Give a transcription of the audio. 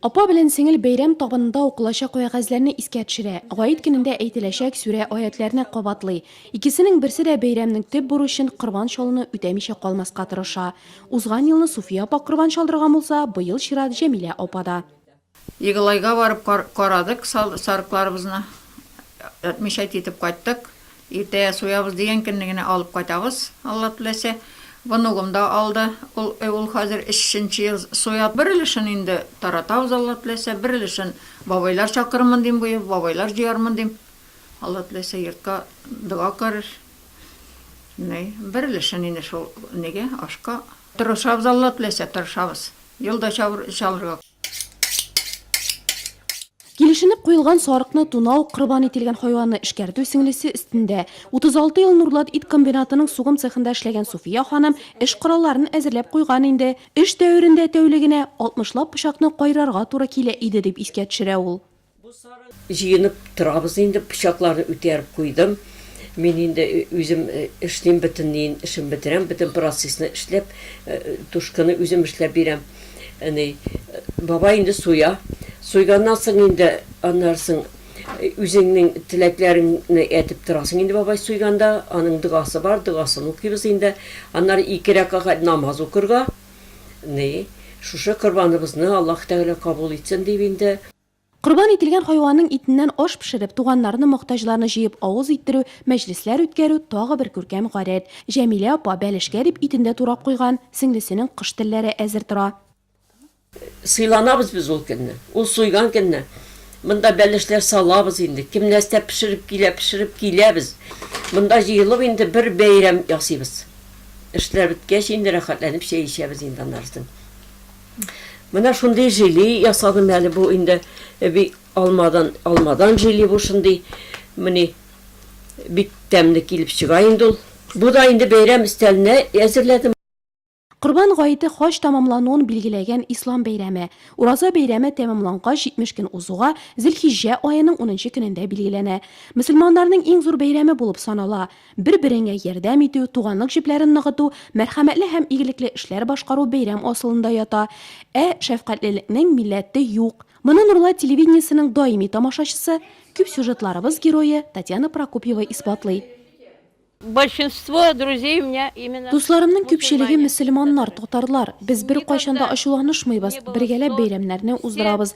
Апа белән сеңел бәйрәм табынында укылачак вәгазьләрне искә төшерә, Гает көнендә әйтеләчәк сүрә аятьләрне кабатлый. Икесенең берсе дә бәйрәмнең төп бурычын, корбан чалуны үтәмичә калмаска тырыша. Узган елны Суфия апа корбан чалдырган булса, быел чират Җәмилә апа да. Егылайга барып карадык сарыкларыбызны, әтмичә китеп кайттык. Иртә суябыз дигән көнне генә алып кайтабыз, Алла теләсә. Внугым да алды, ул ул хәзер өченче ел суя. Бер өлешен инде таратабыз, Алла теләсә, бер өлешен бабайлар чакырырмын дим, бу ел бабайлар җыярмын дим. Алла теләсә, йортка дога керер. Менә бер өлешен инде шул нигә, ашка. Тырышабыз, Алла теләсә, тырышабыз. Ел да чабыр чалырга. Килешенеп куелган сарыкны тунау, корбан ителгән хайванны эшкәртү сеңлесе өстендә. 36 ел Нурлат ит комбинатының сугым цехында эшләгән Суфия ханым эш коралларын әзерләп куйган инде. Эш дәверендә тәүлегенә 60 лап пычакны кайрарга туры килә иде, дип искә төшерә ул. Җыенып торабыз инде, пычакларны үтәреп куйдым. Мин инде үзем эшлим, бөтенләен эшен бетерәм, бөтен процессны эшләп, тушканы үзем эшләп бирәм. Әни, бабай инде суя. Суйганнан соң инде аннары соң үзеңнең теләкләреңне әйтеп торасың инде бабай суйганда, аның догасы бар, догасын укыйбыз инде. Аннары ике рәкагать намаз укырга. Ни, шушы корбаныбызны Аллаһ Тәгалә кабул итсен дип инде. Корбан ителгән хайванның итеннән аш пешереп, туганнарны, мохтаҗларны җыеп авыз иттерү, мәҗлесләр үткәрү, тагы бер күркәм гадәт. Җәмилә апа, бәлешкә дип, итен дә турап куйган, сеңлесенең кош телләре әзер тора. Сыйланабыз без ул көнне, ул суйган көнне. Монда бәлешләр салабыз инде, кем нәрсә пешереп килә, пешереп киләбез. Монда җыелып инде бер бәйрәм ясыйбыз. Эшләр беткәч, инде рәхәтләнеп чәй эчәбез инде аннары соң. Менә шундый жили ясадым әле бу инде бик алмадан, алмадан жили бу шундый. Менә бик тәмле килеп чыга инде ул. Бу да инде бәйрәм өстәленә әзерләдем. Корбан гаете хаҗ тәмамлануын билгеләгән ислам бәйрәме. Ураза бәйрәме тәмамлангач 70 көн узуга, Зелхиҗҗә аеның унынчы көнендә билгеләнә. Мөселманнарның иң зур бәйрәме булып санала. Бер-береңә ярдәм итү, туганлык җепләрен ныгыту, мәрхәмәтле һәм игелекле эшләр башкару бәйрәм асылында ята. Ә шәфкатьлелекнең милләте юк. Моны Нурлат телевидениесенең даими тамашачысы, күп сюжетларыбыз герое Татьяна Прокопьева исбатлый. Большинство друзей у меня именно. Дусларымның күпчелеге мөселманнар, татарлар. Без беркайчан да ачуланышмыйбыз, бергәләп бәйрәмнәрне уздырабыз,